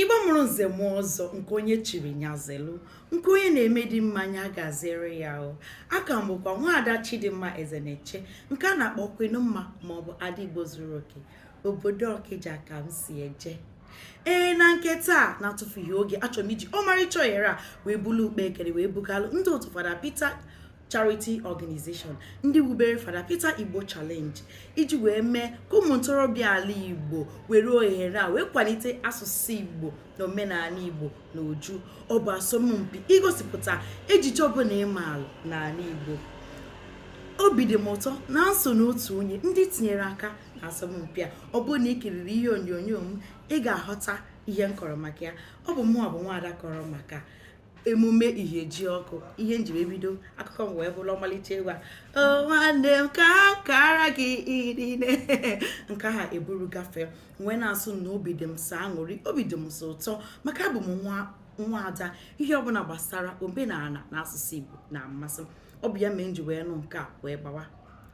Igbo mụrụ nze mụọ ọzọ nke onye chiri nya zelu nke onye na-eme dị mma nya gaziere ya o a ka m bụkwa nwaada Chidimma Ezeneche nke a na-akpọ Queen Mma maọbụ ada Igbo zuru oke obodo Ọkịja ka m si eje ee na nke taa na-atụfughị oge achọrọ m iji ọmarịcha ohere a wee bulu ụkpa ekene wee bugalụ ndị otu fada Peter charity organization ndị wubere fada peter igbo challenge iji wee mee ka ụmụ ntorobịa ala igbo were ohere a wee kwalite asụsụ igbo na omenala igbo na uju ọ bụ asọmpi igosipụta ejije ọbụla ị maalụ n'ala igbo obi dị m ụtọ na m so n'otu onye ndị tinyere aka na asọmpi a ọ bụrụ na ị kiriri ihe onyonyo m ị ga-aghọta ihe m kọrọ maka ya ọ bụ mụnwa bụ nwaada kọrọ maka emume ihejiọkụ ihe m ji wee bido akụkọ m wee bụrụ ọmalịcha egwu a "Oh, nwanne m ka kara gị irine nke ha eburu gafee wee na-asị na obi dị m sọ aṅụrị obi dị m sọ ụtọ maka abụ m nwaada ihe ọbụla gbasara omenala na asụsụ igbo na-amasị m ọ bụ ya mee m ji wee nụ nke a wee gbawa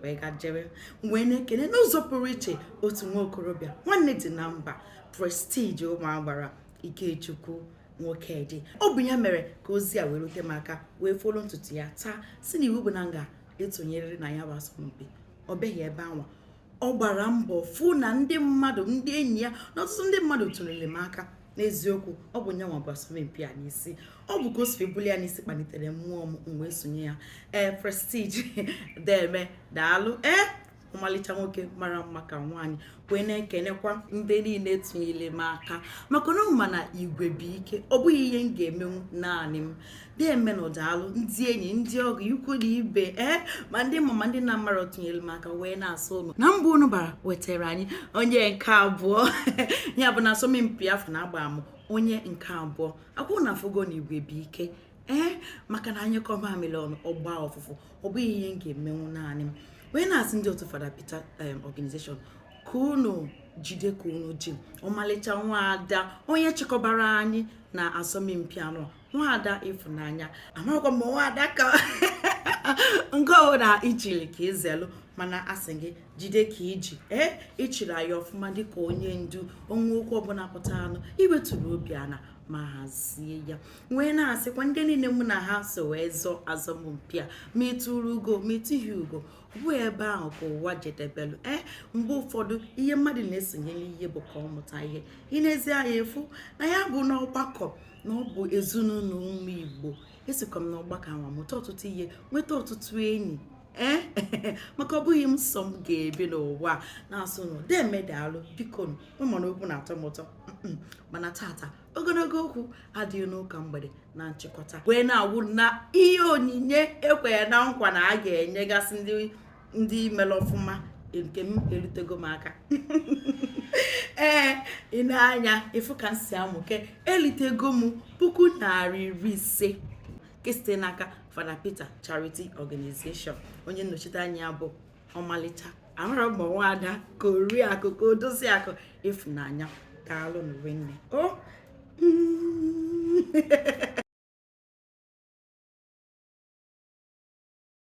wee ga jere wee na-ekene n'ụzọ pụrụ iche otu nwa okorobịa nwanne dị na mba prestige ụmụ agbara Ikechukwu Nwokedi ọ bụ ya mere ka ozi a wee rute m aka wee folo ntutu ya taa si na iwu bụ na m ga-esonyerịrị na ya bụ asọmpi o beghị ebe anwa ọ gbara mbọ fụ na ndị mmadụ ndị enyi ya na ọtụtụ ndị mmadụ tụnyere m aka n'eziokwu ọ bụ nyanwa bu asọmpi a n'isi ọ bụ ka o si buli ya n'isi kpalitere mmụọ m m wee sonye ya ee eh, prestige deeme daalụ ee eh? ọmalịcha nwoke mara mma ka nwaanyị wee na-ekenekwa ndị niile tụnyere m aka maka na ma na igwe bụ ike ọ bụghị ihe m ga-emenwu naanị m deemenụ daalụ ndị enyi ndị ọgọ ikwu na ibe ee ma ndị m ma ma ndị m na-amarọ tụnyere m aka wee na-asị unu na mbọ unu gbara wetara anyị onye nke abụọ ya bụ na asọmpi afụ na agba m onye nke abụọ ọ kwa unu afụgo na igwe bụ ike ee maka na a nyụkọọ mamịrị ọnụ ọ gbaa ụfụfụ ọ bụghị ihe m ga-emenwu naanị m wee na-asị ndị otu fada Peter um, organization ka unu jide ka unu ji ọmalịcha nwaada onye chịkọbara anyị na asọmpi anwa nwaada ịfụnanya amaghịkwa m nwaada ka nke ọbụla i chiri ka i zelu mana asị gị jide ka i ji ee ị chịrị anyị ọfụma dịka onye ndu o nwee okwu ọbụla pụtanụ i wetuo obi ana ma hazie ya wee na-asịkwa ndị niile mụ na ha so wee zọọ asọmpi a ma i turu ugo ma i tughị ugo bụ ebe ahụ ka ụwa jedebelu ee eh, mgbe ụfọdụ ihe mmadụ na-esonye n'ihe bụ ka ọ mụta ihe i nezie anya ị fụ na ya bụ n'ọgbakọ na ọ bụ ezinụlọ ụmụ igbo esikwa m n'ọgbakọ ahụ mụta ọtụtụ ihe nweta ọtụtụ enyi ee eh, maka ọ bụghị m sọ m ga-ebi n'ụwa na-asị nụ deeme daalụ biko ụmụnna okwu na-atọ m ụtọ mana tata ogologo okwu adịghị n'ụka mgbede na nchịkọta wee na-agwa ụnụ na ihe onyinye e kwere na nkwa na a ga-enyegasị ndị mere ọfụma nke m erutego m aka ee i nee anya ị fụ ka m si amụke elitego m puku narị iri ise nke site n'aka Fada Peter Charity Organization onye nnọchite anya bụ ọmalịcha amarọ m ọ nwaada ka oriakụ ka odoziakụ Ịfụnanya daalụ nụ nwanne o